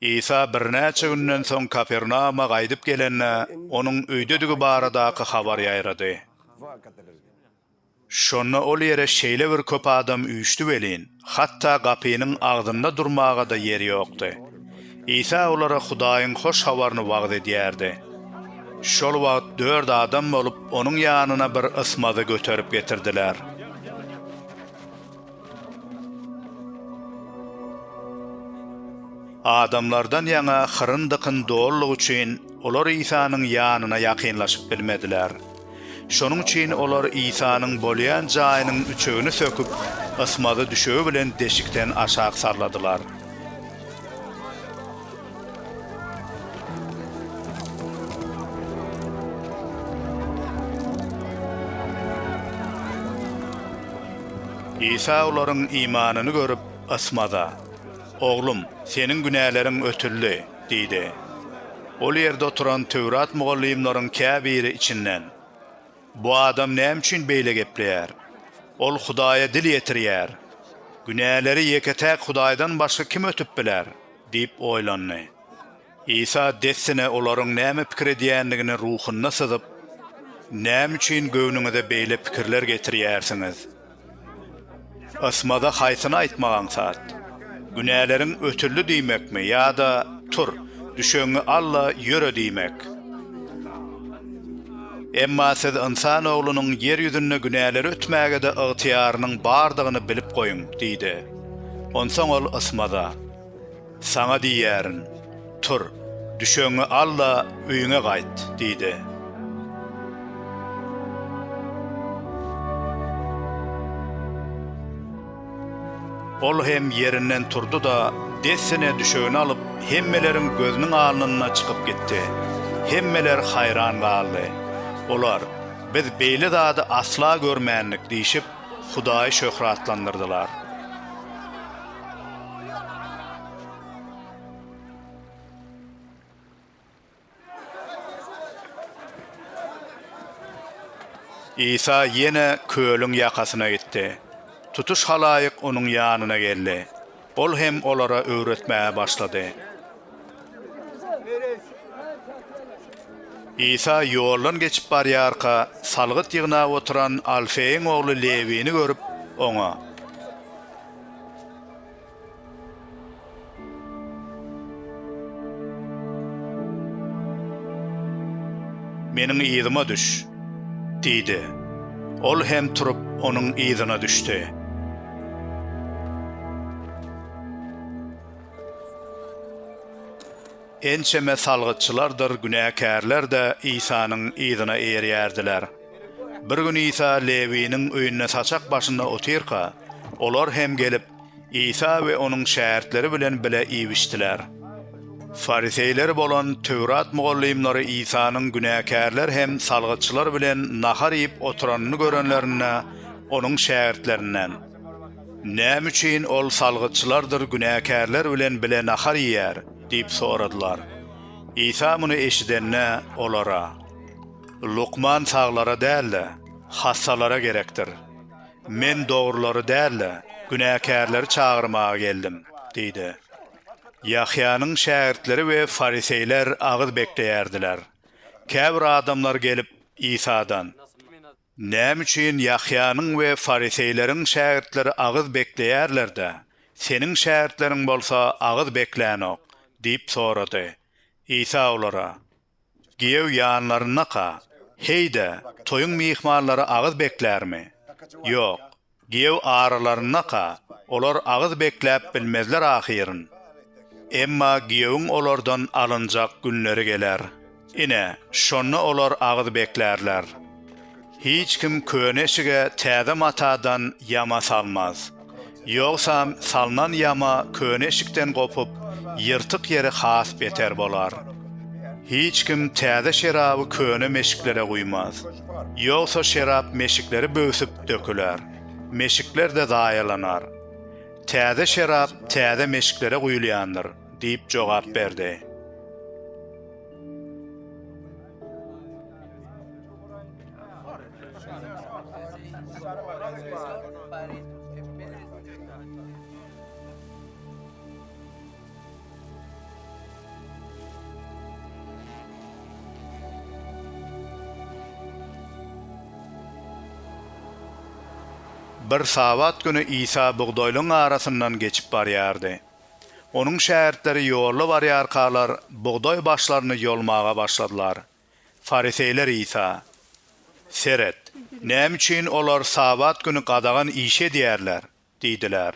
Isa birnäçe günden soň Kapernauma gaýdyp gelende, onuň öýdedigi baradaky habar ýaýrady. Şonda ol ýere şeýle bir köp adam üýşdi welin, hatda gapynyň agzynda durmaga-da ýer ýokdy. Isa olara Hudaýyň hoş habaryny wagyz edýärdi. Şol wagt dört adam bolup, onuň ýanyna bir ysmazy göterip getirdiler. Adamlardan ýaňa hyryn-dykyn doldugy üçin, olar Isanyň ýanyna ýakynlaşyp bilmediler. Şonuň üçin olar Isanyň bolýan jaýynyň üçegini söküp, ysmazy düşegi bilen deşikden aşak salladylar. Isa olaryň imanyny görüp, ysmaza, Oglum, seniň günäleriň ötüldi! diýdi. Ol ýerde oturan Töwrat mugallymlaryň käbiri içinden, Bu adam näme üçin beýle gepleýär? Ol Hudaýa dil ýetirýär. Günäleri ýeke-täk Hudaýdan başga kim ötüp biler? Diýip oýlandy. Isa dessine olaryň näme pikir edýändigini ruhunda syzyp, Näme üçin göwnüňize beýle pikirler getirýärsiňiz? Ysmaza haýsyny aýtmak aňsat? Günäleriň ötüldi diýmekmi ýa-da Tur, düşegiňi al-da, ýöre diýmek? Emma siz Ynsan Oglunyň ýer ýüzünde günäleri ötmäge-de ygtyýarynyň bardygyny bilip goýuň diýdi. Onsoň ol ysmaza. Saňa diýýärin, tur, düşegiňi al-da, öýüňe gaýt! diýdi. Ol hem ýerinden turdy-da, dessine düşegini alyp, hemmeleriň gözüniň alnynda çykyp gitdi. Hemmeler haýran galdy. Olar, Biz beýle zady asla görmändik diýşip, Hudaýy şöhratlandyrdylar. Isa ýene kölüň ýakasyna gitdi. Tutuş halaýyk Onuň ýanyna geldi. Ol hem olara öwretmäge başlady. Isa ýoldan geçip barýarka, salgyt ýygnap oturan Alfeýiň ogly Lewini görüp, oňa. Meniň yzyma düş! diýdi. Ol hem turup, onuň yzyna düşdi. Ençeme salgytçylardyr günäkärler-de Isanyň yzyna eýerýärdiler. Bir gün Isa Lewiniň öýünde saçak başynda otyrka, olar hem gelip, Isa we onuň şägirtleri bilen bile iýip-içdiler. Fariseýler bolan Töwrat mugallymlary Isanyň günäkärler hem salgytçylar bilen nahar iýip oturanyny görenlerinde, onuň şägirtlerinden, Näme üçin ol salgytçylardyr günäkärler bilen bile nahar iýýär? diýip soradylar. Isa muny eşidende, olara. Lukman saglara däl-de, hassalara gerekdir. Men dogrulary däl-de, günäkärleri çagyrmaga geldim, diýdi. Ýahýanyň şägirtleri we fariseýler agyz bekleýärdiler. Käbir adamlar gelip, Isadan, Näme üçin Ýahýanyň we fariseýleriň şägirtleri agyz bekleýärler-de, seniň şägirtleriň bolsa agyz beklänok? diýip sorady. Isa olara, Giýew ýanlaryndaka, heý-de, toýuň myhmanlary agyz beklärmi? Ýok. Giýew aralarynda-ka, olar agyz bekläp bilmezler ahyryn. Emma giýewiň olardan alynjak günleri geler. Ine, şonda olar agyz beklärler. Hiç kim köne eşige täze matadan ýama salmaz. Ýogsam salnan ýama köne eşikden gopup, ýyrtyk ýeri has beter bolar. Hiç kim täze şeraby köne meşiklere guýmaz. Ýogsa şerap meşikleri böwsüp döküler. Meşikler-de zaýalanar. Täze şerap täze meşiklere guýulýandyr, diýip jogap berdi. Bir Sabat güni Isa bugdaýlaryň arasyndan geçip barýardy. Onuň şägirtleri ýolda barýarkalar, bugdaý başlaryny ýolmaga başladylar. Fariseýler Isa, Seret, näme üçin olar Sabat güni gadagan işi edýärler? diýdiler.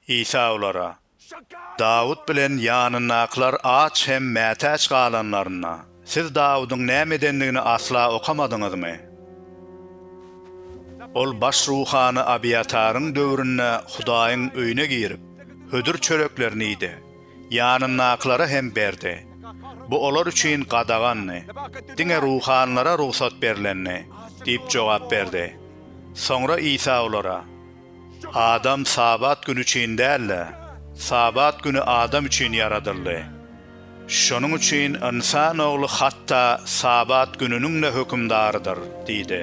Isa olara, Dawut bilen ýanyndakylar aç hem mätäç galanlarynda, Siz Dawudyň näme edendigini asla okamadyňyzmy? Ol baş ruhany Abiýataryň döwründe Hudaýyň öýüne girip, hödür çöreklerini iýdi, ýanyndakylara hem berdi. Bu olar üçin gadagandy, diňe ruhanylara rugsat berlendi diýip jogap berdi. Soňra Isa olara. Adam Sabat güni üçin däl-de, Sabat güni adam üçin ýaradyldy. Şonuň üçin Ynsan Ogly hatda Sabat gününiň-de hökümdarydyr diýdi.